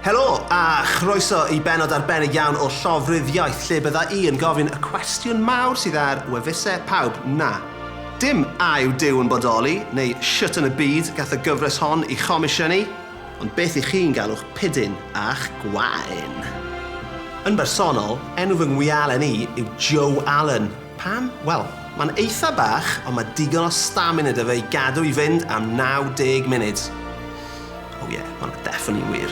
Helo, a chroeso i benod arbennig iawn o Llofrudd Iaith, lle bydda i yn gofyn y cwestiwn mawr sydd ar wefuse pawb, na, dim a yw Duw yn bodoli, neu shwt yn y byd gath y gyfres hon i chomisiynu, ond beth i chi'n galw'ch pidyn a'ch gwain? Yn bersonol, enw fy ngwialen i yw Joe Allen. Pam? Wel, mae'n eitha bach, ond mae digon o stamina 'da fe i gadw i fynd am 90 munud. Oh yeah, ma' hwnna definitely yn wir.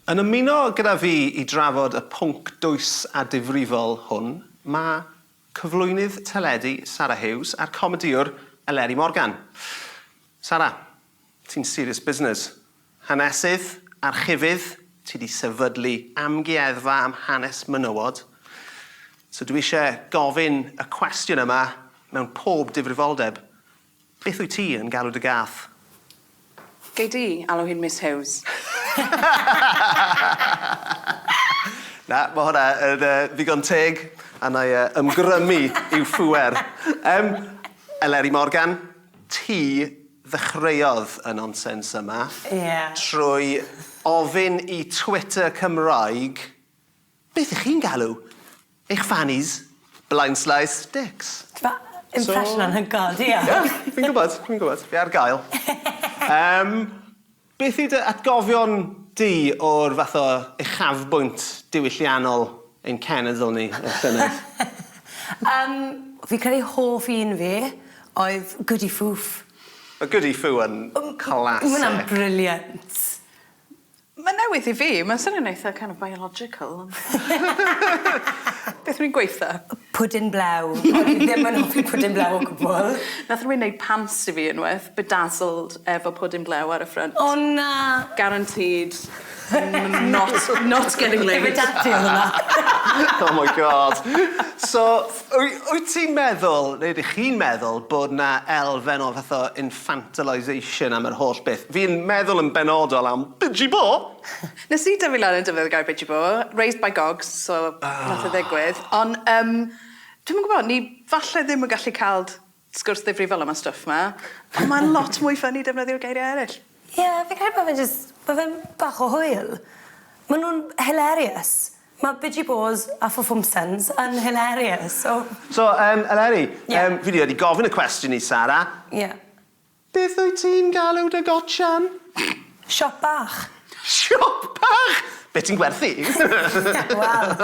Yn ymuno gyda fi i drafod y pwnc dwys a difrifol hwn mae cyflwynydd teledu Sara Hughes a'r comedïwr Eleri Morgan. Sara, Ti'n serious business. Hanesydd, archifydd, ti 'di sefydlu amgueddfa am hanes menywod, so dwi isie gofyn y cwestiwn yma mewn pob difrifoldeb, beth wyt ti yn galw dy gath? Gei di alw hi'n Miss Hughes. Na, ma' hwnna yn ddigon teg, a 'nai ymgrymu i'w phŵer. Yym, Eleri Morgan, Ti ddechreuodd y nonsens yma... Ie. ...trwy ofyn i Twitter Cymraeg beth 'ych chi'n galw eich fannies, blindslys, dicks. Ti fel impression anhygoel, diolch! Ie, fi'n gwbod, fi'n gwbod. Fi ar gael. Yym. Beth yw dy atgofion di o'r fath o uchafbwynt diwylliannol ein cenedl ni, y llynedd? Yym, fi'n credu hoff un fi oedd Goody Foof. Mae Goody Foo yn classic. Mae hwnna'n brilliant. Mae'n newydd i fi, mae'n swnio'n eitha kind of biological ond beth rwy'n gweitho? Pwdin blew. O'n i ddim yn hoffi pwdin blew o gwbl. Nath rywun neud pants i fi unwaith, bedazzled. efo pwdin blew ar y ffrynt. O na! Guaranteed not not getting laid. Ife dati odd wnna? Oh my God. So wy- wyt ti'n meddwl neu ydych chi'n meddwl bod 'na elfen o fath o infantilisation am yr holl beth? Fi'n meddwl yn benodol am Biji Bo! Nes i dyfu lan yn defnyddio'r gair Biji Bo. Raised by gogs so nath e ddigwydd. Ond yym dwi'm yn gwbo ni falle ddim yn gallu ca'l Sgwrs ddifrifol am y stwff 'ma. Ond mae'n lot mwy ffyni defnyddio'r geiriau eraill. Ie, fi'n credu bod fe jyst, bod fe'n bach o hwyl. Maen nhw'n hilarious. Mae Biji Bôs a Fufumsens yn hilarious, so... So, yym, Eleri... Ie? ...yym, fi 'di wedi gofyn y cwestiwn i Sara. Ie. Beth wyt ti'n galw dy gotsian? Siop bach. Siop bach! Be' ti'n gwerthu? Wel,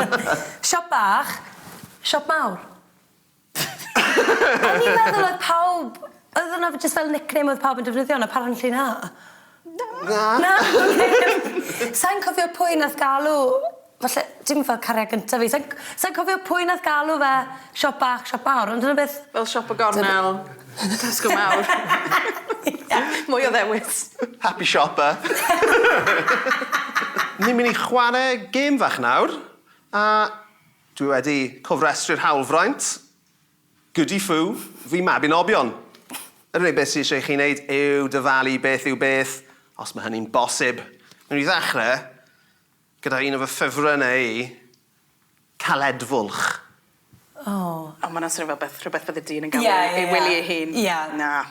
siop bach, siop mawr. O'n i'n meddwl oedd pawb oedd hwnna f- jyst fel nickname oedd pawb yn defnyddio ond apparently na. Na. Na? Na? Oce. Sai'n cofio pwy nath galw falle dim fel cariad gynta fi sai'n c- sai'n cofio pwy nath galw fe siop bach siop mawr ond dyna beth... Fel siop y gornel. Dyna... Tesco mawr. Ie mwy o ddewis. Happy shopper. Ni myn' i chware gêm fach nawr a Dwi wedi cofrestru'r hawlfraint. Goody fu, fy mabinobion. Yr unig beth sy eisiau i chi wneud yw dyfalu beth yw beth, os mae hynny'n bosib. Wnewn ni ddechrau gyda un o fy ffefrynnau i, caledfwlch. O! O, ma' 'na swnio fel beth, rhywbeth bydde dyn yn galw ei wely ei hun. Ie. Na.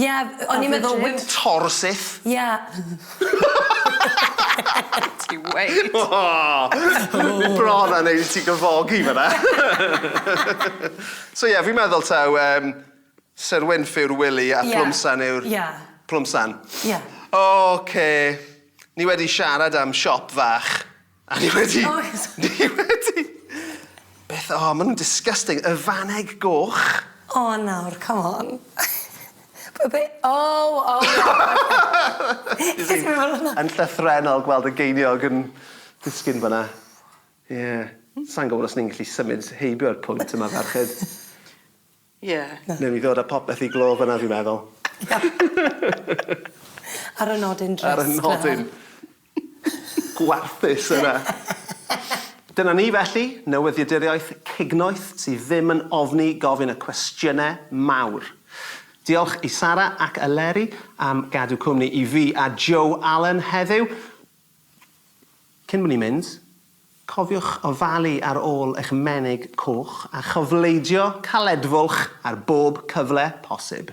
Ie, o'n i'n meddwl wi... Tor syth. Ie. Ti weud. O! Bron a neud i ti gyfogi fan 'na. So ie, fi'n meddwl taw yym Sir Wynff yw'r Wili a Plwmsan yw'r... Ie. Plwmsan. Ie. Ocê, ni wedi siarad am siop fach. A ni wedi... Oes! ...ni wedi! Beth o ma' nw'n disgusting. Y fanneg goch. O nawr come on. Be' be'? O o o! Yn llythrennol gweld y geiniog yn disgyn fynna. Ie. Sai'n gwbod os ni'n gallu symud heibio'r pwnc yma ferched. Ie. Newn ni ddod â popeth i glo fynna fi'n meddwl. Ar y nodyn drist 'na. Ar y nodyn gwarthus yna. Dyna ni felly, newyddiaduriaeth cignoeth sydd ddim yn ofni gofyn y cwestiyne mawr. Diolch i Sara ac Eleri am gadw cwmni i fi a Joe Allen heddiw. Cyn bo ni'n mynd, cofiwch ofalu ar ôl eich menig coch a chofleidio caledfwlch ar bob cyfle posib.